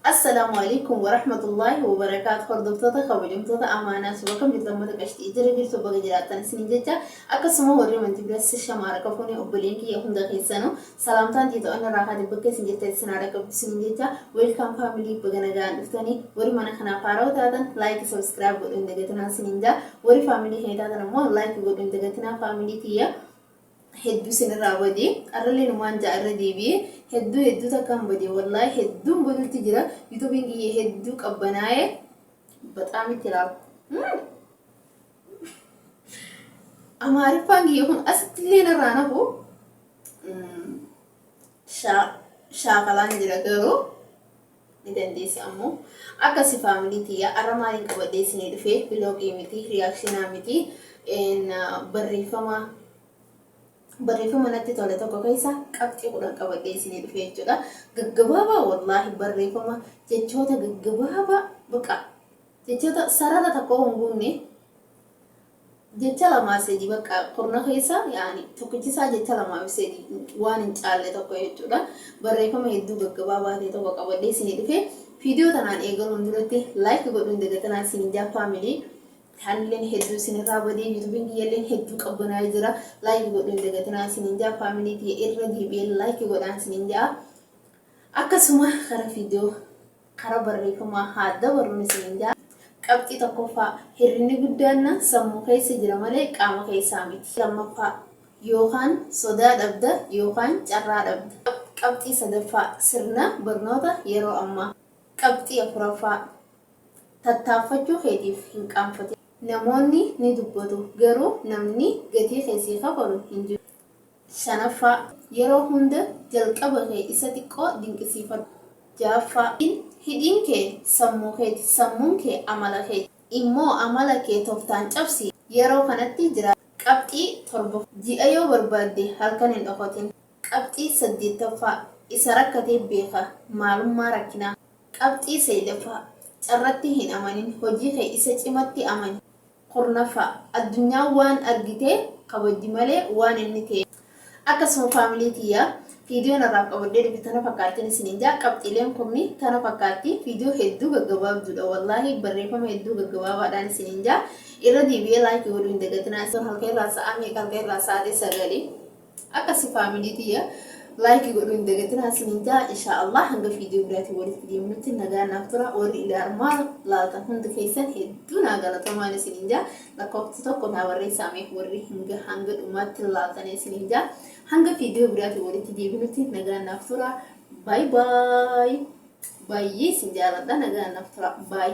Assalaamu Aleykum Warahmatullaahi Wabarakaatu Hordoftoota kabajamtoota Amaanaa Suba kan jirtan mata qashxii jira jirtu baga jiraattan isiniin jecha akkasuma warri manti bira shamaara kafuuni obboleen kiyya hunda keessanu salaamtaan tiito anna raahaati bakka isin jirtan isin haadha qabdu isiniin jecha weelkaam faamilii baga nagaan dhuftanii warri mana kanaaf haarawa taatan laayiki sabiskiraayib godhu hin dagatinaa isiniin jaa warri faamilii kee taatan ammoo laayiki godhu hin dagatinaa faamilii tiyya Hedduu isin irraa bade arrallee numaan ja'a irra deebi'e hedduu hedduu takkaan bade wallaahi hedduun badutti jira yutubiin kiyya hedduu qabbanaa'e baxaam itti laaf amaariffaan kiyya kun asitti illee narraa nafu shaakalaan jira garuu ni dandeessa ammo akkasi family tiyya arra maalin qabadhee isinii dhufee vlogii miti reactionaa miti en barreeffama barreeffama natti tole tokko keessa qabxii kudhan qabadhee isinii dhufee jechuudha gaggabaabaa wallaahi barreeffama jechoota gaggabaabaa baqa jechoota sarara tokko hin guunne Jecha lamaa sedi bakka kurna keessa yaani tokkichi isaa jecha lamaa fi sedi waan hin caalle tokko jechuudha. Barreeffama hedduu gaggabaabaa ta'e tokko qabadhee isinii dhufe. Viidiyoo tanaan eegaluun duratti like godhuu hin dagatinaa isiniin jaa faamilii. Taanilleen hedduu isinirraa badee yuutuubiin kiyyalleen hedduu qabbanaa'ee jira. Like godhuu hin dagatinaa isiniin jaa faamilii tiyya irra deebi'ee like godhaan isiniin jaa. Akkasuma gara viidiyoo Karaa barreeffamaa haa dabarru isiniin jedha. Qabxii 1ffaa, Hirribni guddaan sammuu keessa jira malee qaama keessaa miti. 2ffaa, Yookaan sodaa dhabda yookaan carraa dhabda. Qabxii 3ffaa, Sirna barnoota yeroo ammaa. Qabxii 4ffaa, Tattaaffachuu keetiif hin qaanfatin. Namoonni ni dubbatu, garuu namni gatii kee sii kafalu hin jiru. shanaffaa. Yeroo hunda jalqaba kee isa xiqqoo dinqisiifadhu. ja'affaa. Hin hidhiin kee sammuu keeti, sammuun kee amala keeti. immoo amala kee toftaan cabsi, yeroo kanatti jiraadhu. Qabxii torbaffaa. Ji'a yoo barbaadde halkan hin dhokatin. Qabxii saddeettaffaa. Isa rakkatee beeka maalummaa rakkinaa. Qabxii sayleffaa. Carratti hin amanin, hojii kee isa cimatti amani. kurnaffaa, addunyaan waan argite kabajji malee waan inni ta'e. Akkasuma family tiyya viidiyoon har'aaf qabadhee dhufe tana fakkaattin isiniin ja'a qabxiileen kumni tana fakkaatti viidiyoo hedduu gaggabaabduudha wallaahi barreeffama hedduu gaggabaabaadhaan isiniin ja'a irra deebi'ee like godhuu hin dagatinaa isin halka irraa sa'aa meeqa halka irraa sa'aatii sagali Akkasi family tiyya like godhuu hin dagatinaa isinin jaa insha Allah hanga video biraatiin walitti deemnutti nagaan naaf tura warri ilaa armaan laaltan hundi keessan hedduu naa galatomaan isinin jaa lakkoofsa tokko naa barreessaa meef warri hanga hanga dhumaatti laaltan isinin jaa hanga video biraatiin walitti deemnutti nagaan naaf tura bye bye baay'ee isin jaaladha nagaan naaf tura bye